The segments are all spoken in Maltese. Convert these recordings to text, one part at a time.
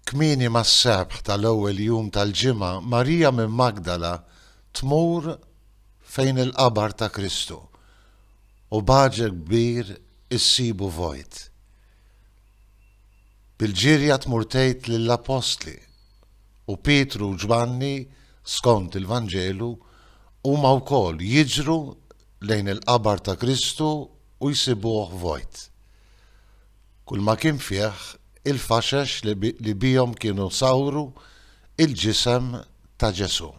Kmieni mas-sebħ tal-ewwel jum tal-ġimgħa, Marija minn Magdala tmur fejn il-qabar ta' Kristu u b'għaġeb kbir issibu vojt. Bil-ġirja tmur tgħid lill-appostli, u Pietru u Ġwanni, skont il-Vanġelu, huma wkoll jiġru lejn il-qabar ta' Kristu u jsibuh vojt. Kulma kien fih il-faxex li bihom kienu sawru il-ġisem ta' Ġesù.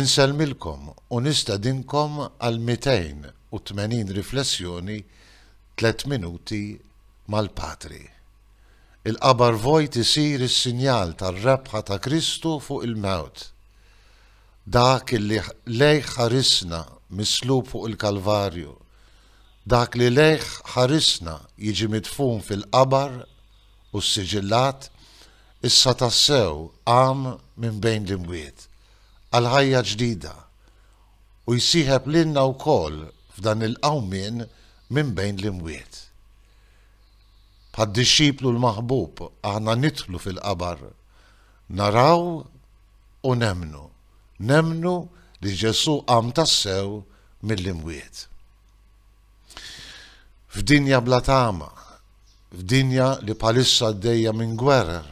Insellmilkom u nistedinkom għal 280 riflessjoni tliet minuti mal-Patri. Il-qabar vojt isir is-sinjal tar-rebħa ta' Kristu fuq il-mewt. Dak li lejh ħarisna mislub fuq il-Kalvarju Dak li lejh ħarisna jiġi midfun fil-qabar u ssiġillat issa tassew qam minn bejn l-imwiet għal ħajja ġdida u jsieħeb lilna wkoll f'dan il-qawmien minn bejn l-imwiet. Bħad-dixxiplu l-maħbub aħna nidħlu fil-qabar Naraw u nemmnu, nemmnu li Ġesù qam tassew mill-imwiet. F'dinja bla tama, f'dinja li bħalissa għaddejja minn gwerer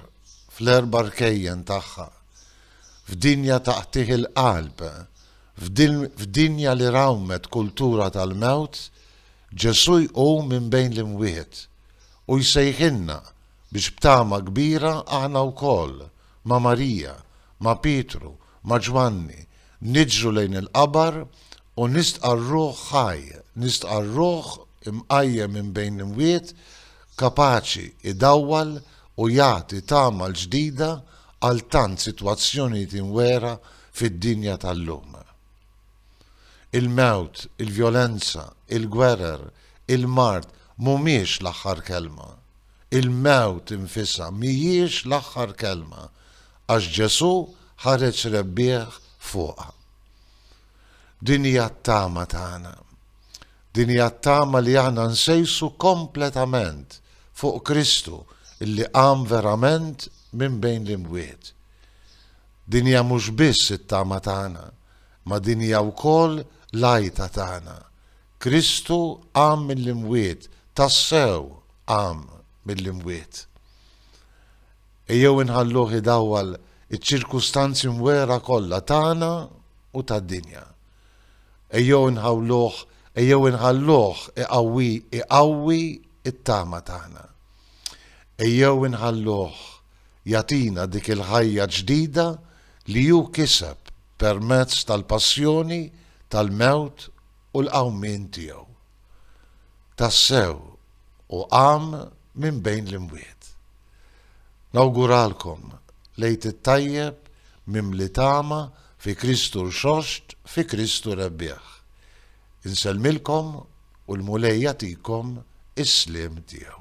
fl-erba' rkejjen tagħha, f'dinja ta' qtigħ il-qalb, f'dinja li rawmet kultura tal-mewt, Ġesù jqum minn bejn l-imwiet u jsejħilna biex b'tama kbira aħna wkoll, ma' Marija, ma' Pietru, ma' Ġwanni, niġru lejn il-qabar u nistqarruh ħaj, nistqarruh imqajjem minn bejn l-imwiet, kapaċi idawwal u jagħti tama l-ġdida għal tant sitwazzjonijiet imwegħra fid-dinja tal-lum. Il-mewt, il-vjolenza, il-gwerer, il-mard mhumiex l-aħħar kelma. Il-mewt infisha mhijiex l-aħħar kelma, għax Ġesù ħareġ rebbieħ fuqha. Din hija t-tama tagħna. Din hija t-tama li aħna nsejsu kompletament fuq Kristu illi qam verament minn bejn l-imwiet. Din hija mhux biss it-tama tagħna, ma din hija wkoll l-għajta tagħna. Kristu qam mill-imwiet, tassew qam mill-imwiet. Ejjew inħalluh idawwal iċ-ċirkustanzi mwera kollha tagħna u tad-dinja. Ejjew inħawluh, ejjew inħalluh iqawwi iqawwi t-tama tagħna. Ejjew inħalluh jagħtina dik il-ħajja ġdida li hu kiseb permezz tal-passjoni, tal-mewt u l-qawmien tiegħu. Tassew hu qam minn bejn l-imwiet. Nawguralkom l-Għid it-Tajjeb mimli tama fi Kristu Rxoxt fi Kristu Rebbieħ. Insellmilkom u l-Mulej jagħtikom is-sliem tiegħu.